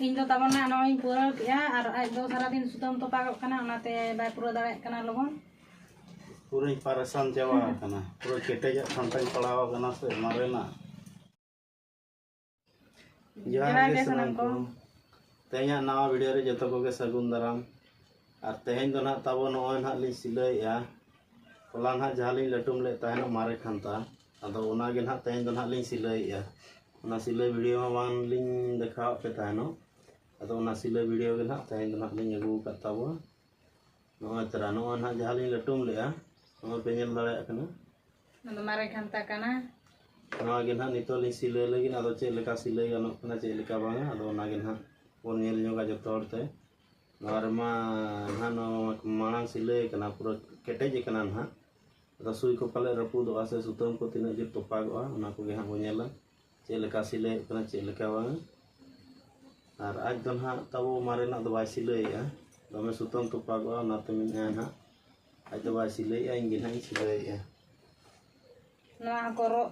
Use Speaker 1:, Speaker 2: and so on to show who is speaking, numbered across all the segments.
Speaker 1: ᱤᱧ ᱫᱚ ᱛᱟᱵᱚᱱ ᱱᱟᱜ ᱱᱚᱜᱼᱚᱭ ᱯᱩᱨᱟᱹᱣ ᱠᱮᱜᱼᱟ ᱟᱨ ᱟᱡ ᱫᱚ ᱥᱟᱨᱟᱫᱤᱱ ᱥᱩᱛᱟᱹᱢ ᱛᱚᱯᱟᱜᱚᱜ ᱠᱟᱱᱟ ᱚᱱᱟᱛᱮ ᱵᱟᱭ ᱯᱩᱨᱟᱹᱣ ᱫᱟᱲᱮᱭᱟᱜ ᱠᱟᱱᱟ ᱞᱚᱜᱚᱱ ᱯᱩᱨᱟᱹᱧ ᱯᱟᱨᱮᱥᱟᱱ ᱪᱟᱵᱟ ᱟᱠᱟᱱᱟ ᱯᱩᱨᱟᱹ ᱠᱮᱴᱮᱡᱟᱜ ᱠᱷᱟᱱᱛᱟᱧ ᱯᱟᱲᱟᱣ ᱟᱠᱟᱱᱟ ᱥᱮ ᱢᱟᱨᱮᱱᱟᱜ ᱡᱚᱦᱟᱨ ᱜᱮ ᱥᱟᱱᱟᱢ ᱠᱚ ᱛᱮᱦᱮᱧᱟᱜ ᱱᱟᱣᱟ ᱵᱷᱤᱰᱤᱭᱳ ᱨᱮ ᱡᱚᱛᱚ ᱠᱚᱜᱮ ᱥᱟᱹᱜᱩᱱ ᱫᱟᱨᱟᱢ ᱟᱨ ᱛᱮᱦᱮᱧ ᱫᱚ ᱱᱟᱦᱟᱜ ᱛᱟᱵᱚ ᱱᱚᱜᱼᱚᱭ ᱱᱟᱦᱟᱜ ᱞᱤᱧ ᱥᱤᱞᱟᱹᱭᱮᱜᱼᱟ ᱦᱚᱞᱟ ᱱᱟᱦᱟᱜ ᱡᱟᱦᱟᱸ ᱞᱤᱧ ᱞᱟᱹᱴᱩᱢ ᱞᱮᱫ ᱛᱟᱦᱮᱱ ᱢᱟᱨᱮ ᱠᱷᱟᱱᱛᱟ ᱟᱫᱚ ᱚᱱᱟᱜᱮ ᱱᱟᱦᱟᱜ ᱛᱮᱦᱮᱧ ᱫᱚ ᱱᱟᱦᱟᱜ ᱞᱤᱧ ᱥᱤᱞᱟᱹᱭᱮᱜᱼᱟ ᱚᱱᱟ ᱥᱤᱞᱟᱹᱭ ᱵᱷᱤᱰᱤᱭᱳ ᱢᱟ ᱵᱟᱝ ᱞᱤᱧ ᱫᱮᱠᱷᱟᱣᱟᱫ ᱯᱮ ᱛᱟᱦᱮᱱᱚᱜ ᱟᱫᱚ ᱚᱱᱟ ᱥᱤᱞᱟᱹᱭ ᱵᱷᱤᱰᱤᱭᱳ ᱜᱮ ᱱᱟᱦᱟᱜ ᱛᱮᱦᱮᱧ ᱫᱚ ᱱᱟᱦᱟᱜ ᱞᱤᱧ ᱟᱹᱜᱩ ᱟᱠᱟᱫ ᱛᱟᱵᱚᱱᱟ ᱱᱚᱜᱼᱚᱭ ᱛᱟᱨᱟ ᱱᱚᱜᱼᱚᱭ ᱱᱟᱦᱟᱜ ᱡᱟᱦᱟᱸ ᱞᱤᱧ ᱞᱟᱹᱴᱩᱢ ᱞᱮᱜᱼᱟ ᱱᱚᱜᱼᱚᱭ ᱯᱮ ᱧᱮᱞ ᱫᱟᱲᱮᱭᱟᱜ ᱠᱟᱱᱟ ᱚᱱᱟ ᱫᱚ ᱢᱟᱨᱮ ᱠᱷᱟᱱᱛᱟ ᱠᱟᱱᱟ ᱱᱚᱣᱟ ᱜᱮ ᱱᱟᱦᱟᱜ ᱱᱤᱛᱚᱜ ᱞᱤᱧ ᱥᱤᱞᱟᱹᱭ ᱞᱟᱹᱜᱤᱫ ᱟᱫᱚ ᱪᱮᱫ ᱞᱮᱠᱟ ᱥᱤᱞᱟᱹᱭ ᱜᱟᱱᱚᱜ ᱠᱟᱱᱟ ᱪᱮᱫ ᱞᱮᱠᱟ ᱵᱟᱝᱟ ᱟᱫᱚ ᱚᱱᱟ ᱜᱮ ᱱᱟᱦᱟᱜ ᱵᱚᱱ ᱧᱮᱞ ᱧᱚᱜᱟ ᱡᱚᱛᱚ ᱦᱚᱲ ᱛᱮ ᱱᱚᱣᱟ ᱨᱮᱢᱟ ᱱᱟᱦᱟᱜ ᱱᱚᱣᱟ ᱢᱟᱲᱟᱝ ᱥᱤᱞᱟᱹᱭ ᱠᱟᱱᱟ ᱯᱩᱨᱟᱹ ᱠᱮᱴᱮᱡ ᱠᱟᱱᱟ ᱱᱟᱦᱟᱜ ᱟᱫᱚ ᱥᱩᱭ ᱠᱚ ᱯᱟᱞᱮ ᱨᱟᱹᱯᱩᱫᱚᱜᱼᱟ ᱥᱮ ᱥᱩᱛᱟᱹᱢ ᱠᱚ ᱛᱤᱱᱟᱹᱜ ᱡᱳᱨ ᱛᱚᱯᱟᱜᱚᱜᱼᱟ ᱚᱱᱟ ᱠᱚᱜᱮ ᱦᱟᱸᱜ ᱵᱚᱱ ᱧᱮᱞᱟ ᱪᱮᱫ ᱞᱮᱠᱟ ᱥᱤᱞᱟᱹᱭᱚᱜ ᱠᱟᱱᱟ ᱪᱮᱫ ᱞᱮᱠᱟ ᱵᱟᱝ ᱟᱨ ᱟᱡ ᱫᱚ ᱱᱟᱦᱟᱜ ᱛᱟᱵᱚ ᱢᱟᱨᱮᱱᱟᱜ ᱫᱚ ᱵᱟᱭ ᱥᱤᱞᱟᱹᱭᱮᱜᱼᱟ ᱫᱚᱢᱮ ᱥᱩᱛᱟᱹᱢ ᱛᱚᱯᱟᱜᱚᱜᱼᱟ ᱚᱱᱟᱛᱮ ᱢᱮᱱᱮᱫᱼᱟ ᱱᱟᱦᱟᱜ ᱟᱡ ᱫᱚ ᱵᱟᱭ ᱥᱤᱞᱟᱹᱭᱮᱜᱼᱟ ᱤᱧ ᱜᱮ ᱱᱟᱦᱟᱜ ᱤᱧ ᱥᱤᱞᱟᱹᱭᱮᱜᱼᱟ ᱱᱚᱣᱟ ᱦᱚᱸᱠᱚ ᱨᱚᱜ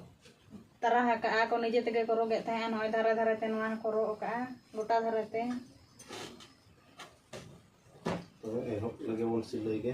Speaker 1: ᱛᱟᱨᱟ ᱟᱠᱟᱜᱼᱟ ᱠᱚ ᱱᱤᱡᱮ ᱛᱮᱜᱮ ᱠᱚ ᱨᱚᱜᱮᱫ ᱛᱟᱦᱮᱸᱜᱼᱟ ᱱᱚᱜᱼᱚᱭ ᱫᱷᱟᱨᱮ ᱫᱷᱟᱨᱮ ᱛᱮ ᱱᱚᱣᱟ ᱦᱚᱸᱠᱚ ᱨᱚᱜ ᱟᱠᱟᱜᱼᱟ ᱜᱚᱴᱟ ᱫᱷᱟᱨᱮ ᱛᱮ ᱛᱚᱵᱮ ᱮᱦᱚᱵ ᱞᱟᱹᱜᱤᱫ ᱵᱚᱱ ᱥᱤᱞᱟᱹᱭ ᱜᱮ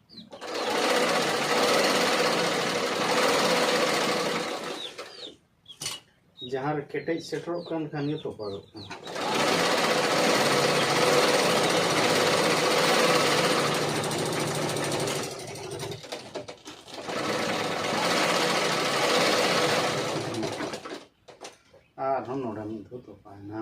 Speaker 1: ᱡᱟᱦᱟᱸ ᱨᱮ ᱠᱮᱴᱮᱡ ᱥᱮᱴᱮᱨᱚᱜ ᱠᱟᱱ ᱠᱷᱟᱱ ᱜᱮ ᱛᱚᱯᱟᱜᱚᱜ ᱠᱟᱱᱟ ᱟᱨᱦᱚᱸ ᱱᱚᱰᱮ ᱢᱤᱫ ᱫᱷᱟᱣ ᱛᱚᱯᱟᱭᱮᱱᱟ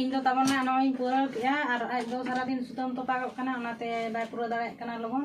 Speaker 1: ᱤᱧ ᱫᱚ ᱛᱟᱵᱚᱱᱟ ᱱᱚᱜᱼᱚᱭ ᱤᱧ ᱯᱩᱨᱟᱹᱣ ᱠᱮᱫᱼᱟ ᱟᱨ ᱟᱡ ᱫᱚ ᱥᱟᱨᱟᱫᱤᱱ ᱥᱩᱛᱟᱹᱢ ᱛᱚᱯᱟᱜᱚᱜ ᱠᱟᱱᱟ ᱚᱱᱟᱛᱮ ᱵᱟᱭ ᱯᱩᱨᱟᱹᱣ ᱫᱟᱲᱮᱭᱟᱜ ᱠᱟᱱᱟ ᱞᱚᱜᱚᱱ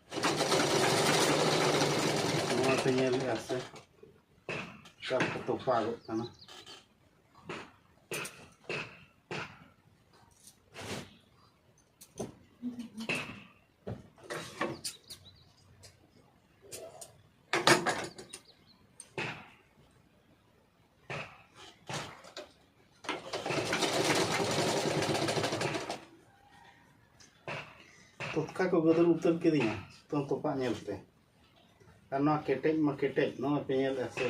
Speaker 1: ᱱᱚᱣᱟ ᱯᱮ ᱧᱮᱞᱮᱫᱼᱟ ᱥᱮ ᱪᱟᱯ ᱠᱚ ᱛᱚᱯᱟᱜᱚᱜ ᱠᱟᱱᱟ ᱛᱚᱛᱠᱟ ᱠᱚ ᱜᱚᱫᱚᱞ ᱩᱛᱟᱹᱨ ᱠᱤᱫᱤᱧᱟ ᱥᱩᱛᱟᱹᱢ ᱛᱚᱯᱟᱜ ᱧᱮᱞᱛᱮ ᱟᱨ ᱱᱚᱣᱟ ᱠᱮᱴᱮᱡ ᱢᱟ ᱠᱮᱴᱮᱡ ᱱᱚᱣᱟ ᱯᱮ ᱧᱮᱞᱮᱫᱼᱟ ᱥᱮ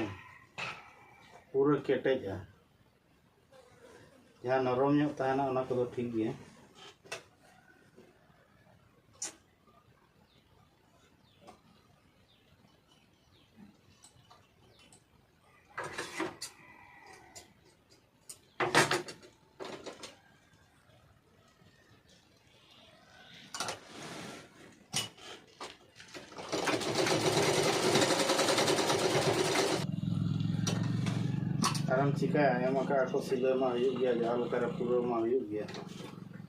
Speaker 1: ᱯᱩᱨᱟᱹ ᱠᱮᱴᱮᱡᱼᱟ ᱡᱟᱦᱟᱸ ᱱᱚᱨᱚᱢ ᱧᱚᱜ ᱛᱟᱦᱮᱱᱟ ᱚᱱᱟ ᱠᱚᱫᱚ ᱴᱷᱤᱠ ᱜᱮᱭᱟ ᱟᱨᱮᱢ ᱪᱤᱠᱟᱹᱭᱟ ᱮᱢ ᱟᱠᱟᱫ ᱟᱠᱚ ᱥᱤᱞᱟᱹ ᱢᱟ ᱦᱩᱭᱩᱜ ᱜᱮᱭᱟ ᱡᱟᱦᱟᱸ ᱞᱮᱠᱟᱨᱮ ᱯᱩᱨᱟᱹᱣ ᱢᱟ ᱦᱩᱭᱩᱜ ᱜᱮᱭᱟ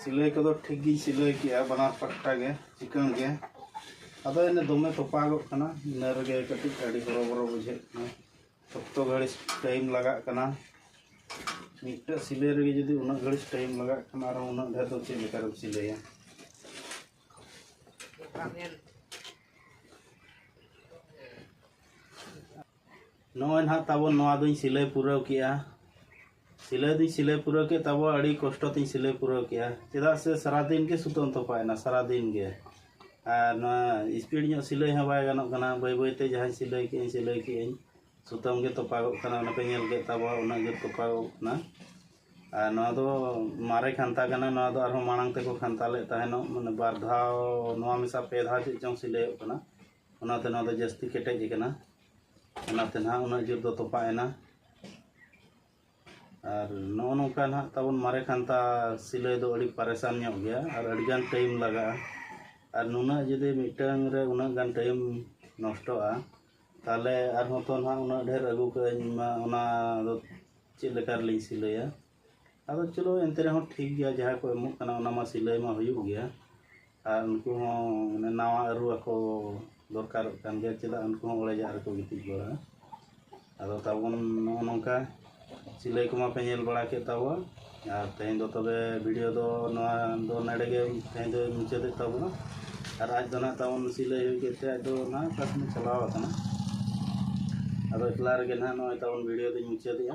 Speaker 1: ᱥᱤᱞᱟᱹᱭ ᱠᱚᱫᱚ ᱴᱷᱤᱠ ᱜᱤᱧ ᱥᱤᱞᱟᱹᱭ ᱠᱮᱜᱼᱟ ᱵᱟᱱᱟᱨ ᱯᱟᱦᱴᱟ ᱜᱮ ᱪᱤᱠᱟᱹᱬ ᱜᱮ ᱟᱫᱚ ᱮᱱᱮ ᱫᱚᱢᱮ ᱛᱚᱯᱟᱜᱚᱜ ᱠᱟᱱᱟ ᱤᱱᱟᱹ ᱨᱮᱜᱮ ᱠᱟᱹᱴᱤᱡ ᱟᱹᱰᱤ ᱦᱚᱨᱚᱵᱚᱨᱚ ᱵᱩᱡᱷᱟᱹᱜ ᱠᱟᱱᱟ ᱥᱚᱠᱛᱚ ᱜᱷᱟᱹᱲᱤᱡ ᱴᱟᱭᱤᱢ ᱞᱟᱜᱟᱜ ᱠᱟᱱᱟ ᱢᱤᱫᱴᱮᱡ ᱥᱤᱞᱟᱹᱭ ᱨᱮᱜᱮ ᱡᱩᱫᱤ ᱩᱱᱟᱹᱜ ᱜᱷᱟᱹᱲᱤᱡ ᱴᱟᱭᱤᱢ ᱞᱟᱜᱟᱜ ᱠᱟᱱᱟ ᱟᱨ ᱩᱱᱟᱹᱜ ᱰᱷᱮᱨ ᱫᱚ ᱪᱮᱫ ᱞᱮᱠᱟᱨᱮᱢ ᱥᱤᱞᱟᱹᱭᱟ ᱱᱚᱜᱼᱚᱭ ᱱᱟᱦᱟᱜ ᱛᱟᱵᱚᱱ ᱱᱚᱣᱟ ᱫᱩᱧ ᱥᱤᱞᱟᱹᱭ ᱯᱩᱨᱟᱹᱣ ᱠᱮᱫᱼᱟ ᱥᱤᱞᱟᱹᱭ ᱫᱩᱧ ᱥᱤᱞᱟᱹᱭ ᱯᱩᱨᱟᱹᱣ ᱠᱮᱫ ᱛᱟᱵᱚᱱ ᱟᱹᱰᱤ ᱠᱚᱥᱴᱚ ᱛᱤᱧ ᱥᱤᱞᱟᱹᱭ ᱯᱩᱨᱟᱹᱣ ᱠᱮᱫᱼᱟ ᱪᱮᱫᱟᱜ ᱥᱮ ᱥᱟᱨᱟ ᱫᱤᱱ ᱜᱮ ᱥᱩᱛᱟᱹᱢ ᱛᱚᱯᱟᱭᱮᱱᱟ ᱥᱟᱨᱟ ᱫᱤᱱ ᱜᱮ ᱟᱨ ᱱᱚᱣᱟ ᱤᱥᱯᱤᱰ ᱧᱚᱜ ᱥᱤᱞᱟᱹᱭ ᱦᱚᱸ ᱵᱟᱭ ᱜᱟᱱᱚᱜ ᱠᱟᱱᱟ ᱵᱟᱹᱭ ᱵᱟᱹᱭ ᱛᱮ ᱡᱟᱦᱟᱸᱧ ᱥᱤᱞᱟᱹᱭ ᱠᱮᱫᱼᱟᱹᱧ ᱥᱤᱞᱟᱹᱭ ᱠᱮᱫᱼᱟᱹᱧ ᱥᱩᱛᱟᱹᱢ ᱜᱮ ᱛᱚᱯᱟᱜᱚᱜ ᱠᱟᱱᱟ ᱚᱱᱟ ᱯᱮ ᱧᱮᱞ ᱠᱮᱫ ᱛᱟᱵᱚᱱ ᱩᱱᱟᱹᱜ ᱜᱮ ᱛᱚᱯᱟᱜᱚᱜ ᱠᱟᱱᱟ ᱟᱨ ᱱᱚᱣᱟ ᱫᱚ ᱢᱟᱨᱮ ᱠᱷᱟᱱᱛᱟ ᱠᱟᱱᱟ ᱱᱚᱣᱟ ᱫᱚ ᱟᱨᱦᱚᱸ ᱢᱟᱲᱟᱝ ᱛᱮᱠᱚ ᱠᱷᱟᱱᱛᱟ ᱞᱮᱫ ᱛᱟᱦᱮᱱᱚᱜ ᱢᱟᱱᱮ ᱵᱟᱨ ᱫᱷᱟᱣ ᱱᱚᱣᱟ ᱢᱮᱥᱟ ᱯᱮ ᱫᱷᱟᱣ ᱪᱮᱫ ᱪᱚᱝ ᱥᱤᱞᱟᱹᱭᱚᱜ ᱠᱟᱱᱟ ᱚᱱᱟᱛᱮ ᱱᱚᱣᱟ ᱫᱚ ᱡᱟᱹᱥᱛᱤ ᱠᱮᱴᱮᱡ ᱟᱠᱟᱱᱟ ᱚᱱᱟᱛᱮ ᱱᱟᱦᱟᱜ ᱩᱱᱟᱹᱜ ᱡᱳᱨ ᱫᱚ ᱛᱚᱯᱟᱜ ᱮᱱᱟ ᱟᱨ ᱱᱚᱜᱼᱚ ᱱᱚᱝᱠᱟ ᱱᱟᱦᱟᱜ ᱛᱟᱵᱚᱱ ᱢᱟᱨᱮ ᱠᱷᱟᱱᱛᱟ ᱥᱤᱞᱟᱹᱭ ᱫᱚ ᱟᱹᱰᱤ ᱯᱟᱨᱮᱥᱟᱱ ᱧᱚᱜ ᱜᱮᱭᱟ ᱟᱨ ᱟᱹᱰᱤᱜᱟᱱ ᱴᱟᱭᱤᱢ ᱞᱟᱜᱟᱜᱼᱟ ᱟᱨ ᱱᱩᱱᱟᱹᱜ ᱡᱩᱫᱤ ᱢᱤᱫᱴᱟᱝ ᱨᱮ ᱩᱱᱟᱹᱜ ᱜᱟᱱ ᱴᱟᱭᱤᱢ ᱱᱚᱥᱴᱚᱜᱼᱟ ᱛᱟᱦᱚᱞᱮ ᱟᱨᱦᱚᱸ ᱛᱚ ᱱᱟᱦᱟᱜ ᱩᱱᱟᱹᱜ ᱰᱷᱮᱨ ᱟᱹᱜᱩ ᱠᱟᱜ ᱟᱹᱧ ᱢᱟ ᱚᱱᱟ ᱫᱚ ᱪᱮᱫ ᱞᱮᱠᱟ ᱨᱮᱞᱤᱧ ᱥᱤᱞᱟᱹᱭᱟ ᱟᱫᱚ ᱪᱚᱞᱚ ᱮᱱᱛᱮ ᱨᱮᱦᱚᱸ ᱴᱷᱤᱠ ᱜᱮᱭᱟ ᱡᱟᱦᱟᱸ ᱠᱚ ᱮᱢᱚᱜ ᱠᱟᱱᱟ ᱚᱱᱟ ᱢᱟ ᱥᱤᱞᱟᱹᱭ ᱢᱟ ᱦᱩᱭᱩᱜ ᱜᱮᱭᱟ ᱟᱨ ᱩᱱᱠᱩ ᱦᱚᱸ ᱢᱟᱱᱮ ᱱᱟᱣᱟ ᱟᱹᱨᱩ ᱟᱠᱚ ᱫᱚᱨᱠᱟᱨᱚᱜ ᱠᱟᱱ ᱜᱮᱭᱟ ᱪᱮᱫᱟᱜ ᱩᱱᱠᱩ ᱦᱚᱸ ᱚᱲᱮᱡᱟᱜ ᱨᱮᱠᱚ ᱜᱤᱛᱤᱡ ᱵᱟᱲᱟᱜᱼᱟ ᱟᱫᱚ ᱛᱟᱵᱚᱱ ᱱᱚᱜᱼᱚ ᱱᱚᱝᱠᱟ ᱥᱤᱞᱟᱹᱭ ᱠᱚᱢᱟ ᱯᱮ ᱧᱮᱞ ᱵᱟᱲᱟ ᱠᱮᱫ ᱛᱟᱵᱚᱣᱟ ᱟᱨ ᱛᱮᱦᱮᱧ ᱫᱚ ᱛᱚᱵᱮ ᱵᱷᱤᱰᱤᱭᱳ ᱫᱚ ᱱᱚᱣᱟ ᱫᱚ ᱱᱚᱰᱮ ᱜᱮ ᱛᱮᱦᱮᱧ ᱫᱚ ᱢᱩᱪᱟᱹᱫᱮᱫ ᱛᱟᱵᱚᱱᱟ ᱟᱨ ᱟᱡ ᱫᱚ ᱱᱟᱦᱟᱜ ᱛᱟᱵᱚᱱ ᱥᱤᱞᱟᱹᱭ ᱦᱩᱭ ᱠᱮᱫ ᱛᱮ ᱟᱡ ᱫᱚ ᱱᱟᱦᱟᱜ ᱚᱠᱟ ᱥᱮᱱᱮ ᱪᱟᱞᱟᱣ ᱟᱠᱟᱱᱟ ᱟᱫᱚ ᱮᱠᱞᱟ ᱨᱮᱜᱮ ᱱᱟᱦᱟᱜ ᱱᱚᱜᱼᱚᱭ ᱛᱟᱵᱚᱱ ᱵᱷᱤᱰᱤᱭᱳ ᱫᱚᱧ ᱢᱩᱪᱟᱹᱫᱮᱜᱼᱟ